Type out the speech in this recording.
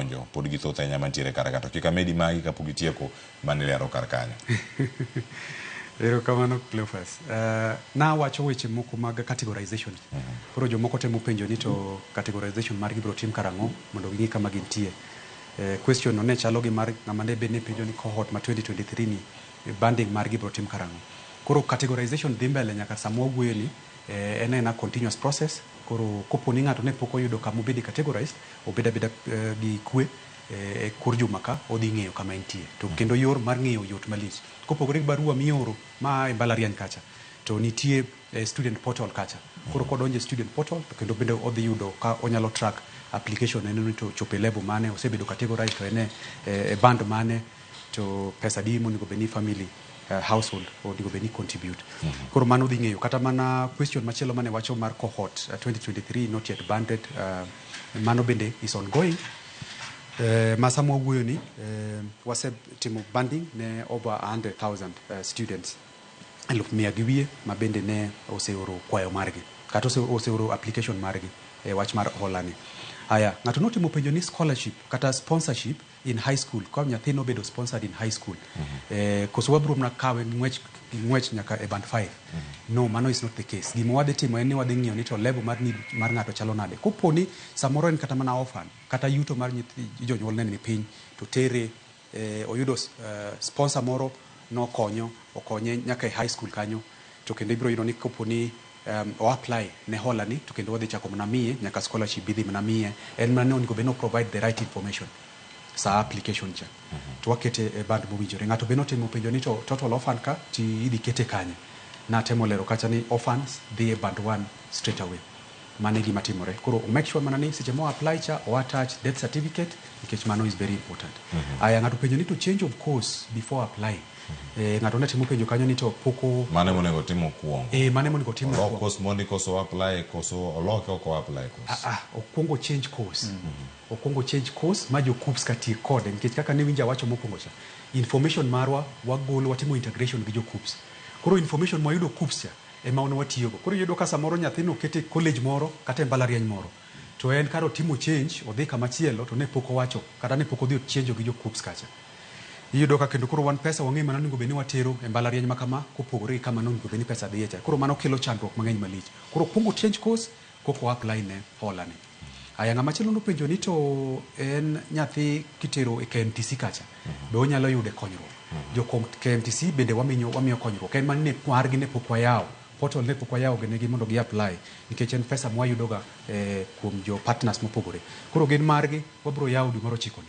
donjo pod githoth ahinya mantiere kar ka to kik amedi magi kapok itieko mane ilero kar kanyo. Erokamano Cleophas. Uh, nawacho weche moko mag categorization. Mm -hmm. Koro jomoko temo penjo ni to categorization mar gibro tim karang'o mondo ging'e kama gintie. Uh, question no ne chalo gi mar ng'ama ne bed ni penjo ni cohort ma 2023 ni eh, banding mar gibro tim karang'o. Koro categorization dhi mbele nyaka sama wawuoyo ni eh, en ena continuous process Koro kopo ni ng'ato ne pok oyudo kama obede categorized, obed abeda gi kwe e kor juma ka, odhi ng'eyo kama entie. To kendo yor mar ng'eyo yot malich. Kopogore gi barua mioro ma a e mbalariany kacha, to nitie e student portal kacha. Koro kodonjo e student portal to kendo bende odhi yudo ka onyalo track application ne ni to ochopo e level mane, osebedo categorized to en e band mane. to pesa adi monego bed ni family uh, household onego bed ni contribute mm -hmm. koro mano dhi ng'eyo kata mana question machielo mane wacho mar cohort uh, 2023 not yet banded uh, mano bende is ongoing Uh, ma sama wawuoyo ni uh, wasetimo banding ne over 100,000 uh, students eluf mia gi wiye ma bende ne oseoro kwayo margi kata ose- oseoro application margi e wach mar holani haya ng'ato notimo penjo ni scholarship kata sponsorship in high school ka nyathi nobedo sponsored in high school eh, koso wabiro mna kawe gi ng'wech gi ng'wech nyaka e band 5 no mano is not the case gima wadhi timo en ni wadhi ng'iyo ni to level mar need mar ng'ato chalo nade kopo ni samoro en kata mana orphan kata yuto mar nyithi jonyuolne ni piny to tere eh, oyudo eh, sponsor moro nokonyo okonye nyaka e high school kanyo To kendo ibiro yudo ni kopo ni o apply ne hola ni to kendo wadhi chako mana miye nyaka scholarship bi dhi mana miye. En mana ni onego bed ni o provide the right information saa application cha. To wakete e band mowinjore. Ng'ato be notemo penjo ni to total orphan ka ti idhi kete kanye? Natemo lero kacha ni orphans dhi e band one straight away. Mano e gima timore. Koro o make sure mana ni seche mo apply cha o attach death certificate nikech mano is very important. Aya, ng'ato openjo ni to change of course before applying. Eh, ng'ato ne timo penjo kanyo ni to pok o- Mano ema onego otim mokwongo. eh, mano ema onego otim Olok mokwongo. course mondi koso apply koso oloke ok o apply course. Ah, ah, okwongo change course okwongo change course ma jokups ka tiek kode nikech kaka ne winja wacho mokwongo cha information marwa wagolo watimo integration gi jokups koro information mwayudo kups cha ema wan watiyogo koro iyudo ka samoro nyathino okete e college moro kata e mbalariany moro to en kar otimo change odhi kamachielo to ne pok owacho kata ne pok odhi ochenjo gi jokups kacha Iyudo ka kendo koro wan pesa wang'eyo mana onego bed ni watero e mbalariany ma kama kopogore gi kama nonego bed ni pesa dhiye cha. Koro mano kelo chandruok mang'eny malich. Koro okwong ochange course koka o apply ne hola ni. Aya ng'ama chielo nopenjo ni to en nyathi kitero e KMTC kacha be onyalo yude konyruok. Jo KMTC bende waminyo wamiyo konyruok. En mana ni margi ne pok wayawo. Portal ne pok wayawo ne gi mondo gi apply nikech en pesa mwayudo ga kuom jo partners mopogore. Koro gin margi wabiro yawo dwe mar ochiko ni.